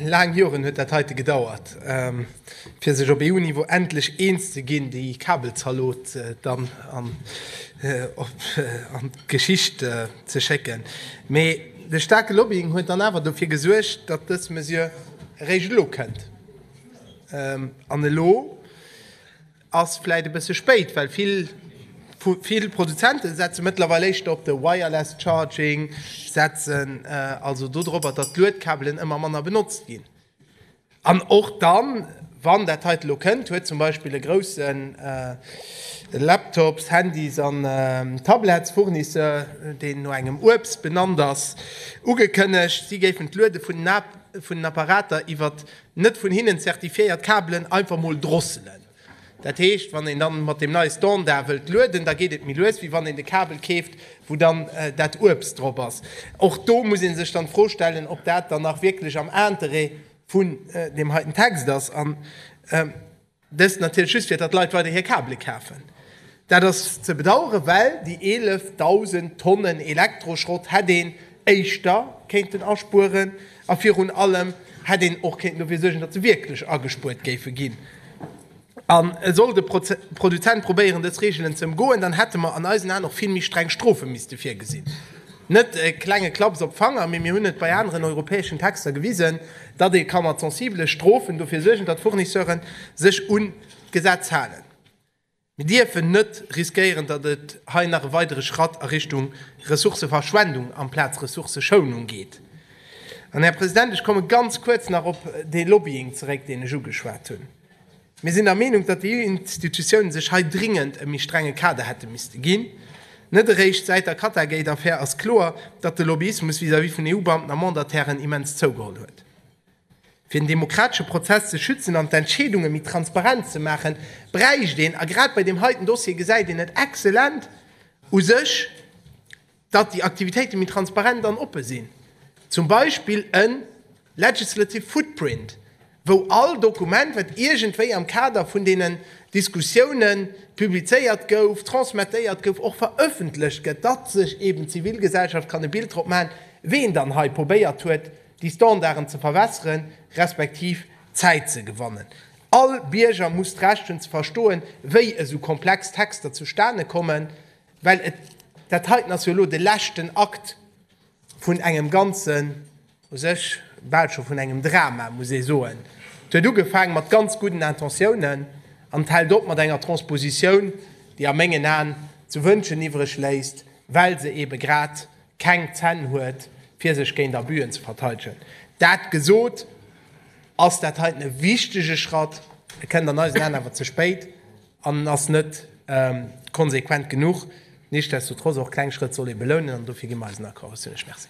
Laang Joren huet dat heite gedauert, fir sech op EU-Niveau endlech eens ze ginn, déi Kabelzalot dann an d'Geschicht ze schécken. Mee de staarke Lobbying huet dann awer dofir gesuergt, datt dës Mesure eréischt elo kënnt. An elo? Ass vläit e bësse spéit, well vill vill Produzente setze mëttlerweil éischter op de Wireless Charging, setzen also do drop, datt d'Luedkabelen ëmmer manner benotzt ginn. An och dann, wann dat heite lo kënnt, huet zum Beispill e grousse Laptops-, Handys an Tablets-Fournisseur, deen no engem Uebst benannt ass, ugekënnegt, si géifen d'Luede vun den Apparater iwwer Net vun hinnen zertifiéiert Kabelen einfach mol drosselen. Dat heescht, wann een dann mat dem neie Standard wëllt lueden, da geet et méi lues, wéi wann een de Kabel keeft, wou dann dat Uebst drop ass. Och do muss ee sech dann d'Fro stellen, ob dat dann nach wierklech am Interêt vun deem heiten Text ass. Dëst natierlech just fir datt Leit weider hir Kabele kafen. Dat ass ze bedaueren, well déi 11.000 Tonnen Elektroschrott hätt een éischter kéinten aspueren a virun allem hätt een och kéinten dofir suergen, datt se wierklech agespuert géife ginn. An sollt e Produzent probéieren dës Reegelen ze ëmgoen, dann hätte mer an eisen Aen och vill méi streng Strofe misste virgesinn. Net e klenge Klaps op Fanger, mee mir hunn et bei aneren europäeschen Texter gewisen, datt ee ka mat sensibele Strofen dofir suergen, datt d'Fournisseure sech un d'Gesetz halen. Mir dierfen net riskéieren, datt et hei nach e weidere Schratt a Richtung Ressourcëverschwendung amplaz Ressourcëschounung geet. An, Här President, ech komme ganz kuerz nach op dee Lobbying zeréck, deen ech ugeschwat hunn. Mir sinn der Meenung, datt déi EU-Institutiounen sech hei dringend e méi strenge Kader hätte misste ginn. Net eréischt säit der Qatargate-Affär ass kloer, datt de Lobbyismus vis-à-vis vun EU-Beamten a Mandatairen immens zougeholl huet. Fir den demokratesche Prozess ze schützen an d'Entscheedunge méi transparent ze maachen, bräicht een, a grad bei deem heiten Dossier gesäit een et exzellent u sech, datt déi Aktivitéite méi transparent an oppe sinn, zum Beispill e legislative footprint, wou all Dokument, wat iergendwéi am Kader vun deenen Diskussioune publizéiert gouf, transmettéiert gouf, och verëffentlecht gëtt, datt sech eeben d'Zivilgesellschaft kann e Bild drop maachen, wien dann hei probéiert huet, déi Standarden ze verwässere respektiv Zäit ze gewannen. All Bierger muss d'Recht hunn ze verstoen, wéi esou komplex Texter zustane kommen. Well et, dat heiten ass jo elo de leschten Akt vun engem ganzen, u sech bal scho vun engem Drama, muss ee soen. Et huet ugefaang mat ganz gudden Intentiounen an et hält op mat enger Transpositioun, déi a mengen Aen ze wënschen iwwreg léisst, well se eebe grad keng Zänn huet, fir sech géint Abüen ze verteidegen. Dat gesot, ass dat heiten e wichtege Schratt. E kënnt an eisen Aen awer ze spéit. an ass net konsequent genuch. Nichtsdestotrotz, och kleng Schrëtt soll ee belounen an dofir gi mer eisen Accord. Ech si lech Merci.